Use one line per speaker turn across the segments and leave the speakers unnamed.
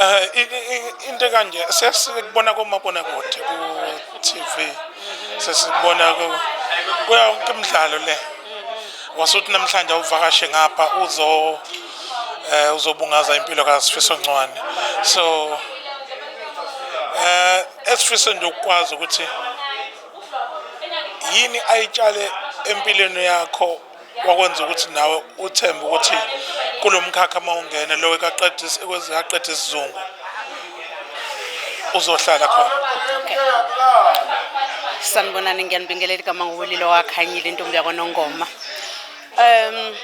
Eh, into kanje sesikubona komabonakude ku-tv sesikubona kuya wonke imidlalo le wasuthi namhlanje awuvakashe ngapha uzo eh uzobungaza impilo kaSifiso Ncwane so eh esifiso nje ukwazi ukuthi yini ayitshale empilweni yakho wakwenza ukuthi nawe uthembe ukuthi kulo mkhakha uma ungena lowo ekaqeda isizungu uzohlala khona
sanibonani ngiyanibingelela igama nguwulilo wakhanyile intombi yakwanongoma um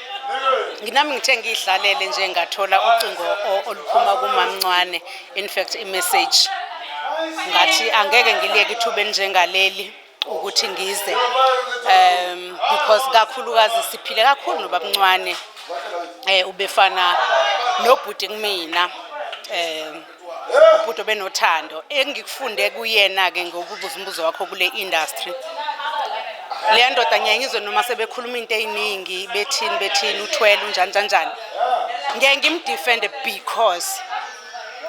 nginami ngithe ngiyidlalele nje ngathola ucingo oluphuma kumamncwane in fact imessage ngathi angeke ngiliyeke ithuba elinjengaleli ukuthi ngize um because kakhulukazi siphile kakhulu nobabncwane eh ubefana nobhuti kumina um ubhuti obenothando engikufunde kuyena ke ngokubuza umbuzo wakho kule industry leya ndoda ngiyeke ngizwe noma sebekhuluma into eyiningi bethini bethini uthwele unjani kanjani ngeke ngimdefende because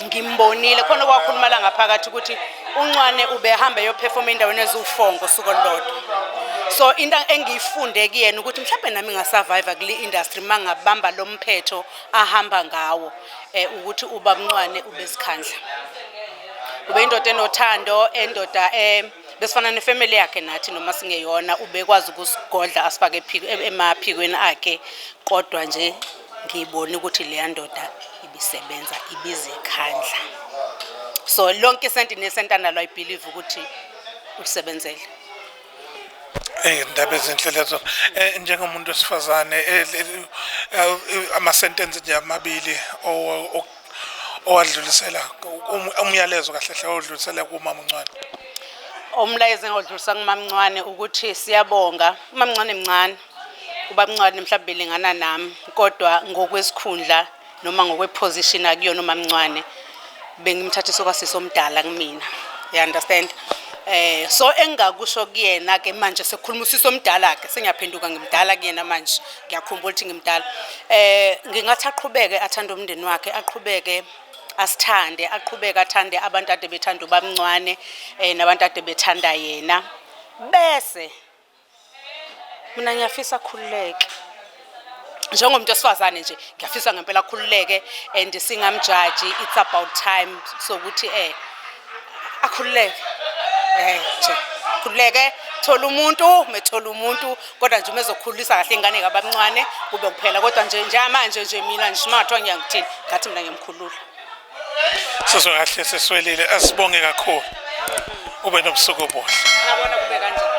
ngimbonile khona okwakhuluma la ngaphakathi ukuthi uncwane ubehamba eyophefoma endaweni eziwufongo usuku olulodwa so into engiyifunde kuyena ukuthi mhlawumbe nami ngasurvive kule industry uma ngabamba lo mphetho ahamba ngawo um ukuthi ubamncwane ubezikhandla ube indoda enothando endoda um besifana nefamily yakhe nathi noma singeyona ubekwazi ukusigodla asifake emaphikweni akhe kodwa nje ngibone ukuthi leya ndoda ibisebenza ibizikhandla so lonke isenti nesenti analo i believe ukuthi ulisebenzele
ey'ndaba ezinhle lezo um njengomuntu wesifazane eh, eh, amasentensi nje amabili owadlulisela um, umyalezo kahle hle odlulisela kumama uncwane umlayezo
engawudlulisa kumamncwane ukuthi siyabonga umamncane mncane ubamncwane mhlawumbe elingana nami kodwa ngokwesikhundla noma ngokweposition akuyona umamncwane bengimthathisa okwasisi omdala kumina you understand eh so engakusho kuyena ke manje sekukhuluma usisi omdala ke sengiyaphenduka ngimdala kuyena manje ngiyakhumbula ukuthi ngimdala eh ngingathi aqhubeke athanda umndeni wakhe aqhubeke asithande aqhubeke athande abantu ade bethanda ubamncwane eh nabantu ade bethanda yena bese mina ngiyafisa akhululeke njengomuntu wesifazane nje ngiyafisa ngempela akhululeke and singamjaji it's about time sokuthi eh akhululeke eh nje khululeke thola umuntu methola umuntu kodwa nje umezokhulisa kahle ingane kabamncane kube kuphela kodwa nje njamanje nje mina ngishimathwa ngiyangithini ngathi mina ngiyamkhulula
sizwe
kahle
siswelile asibonge kakhulu ube nobusuku obuhle
ngabona
kube kanjani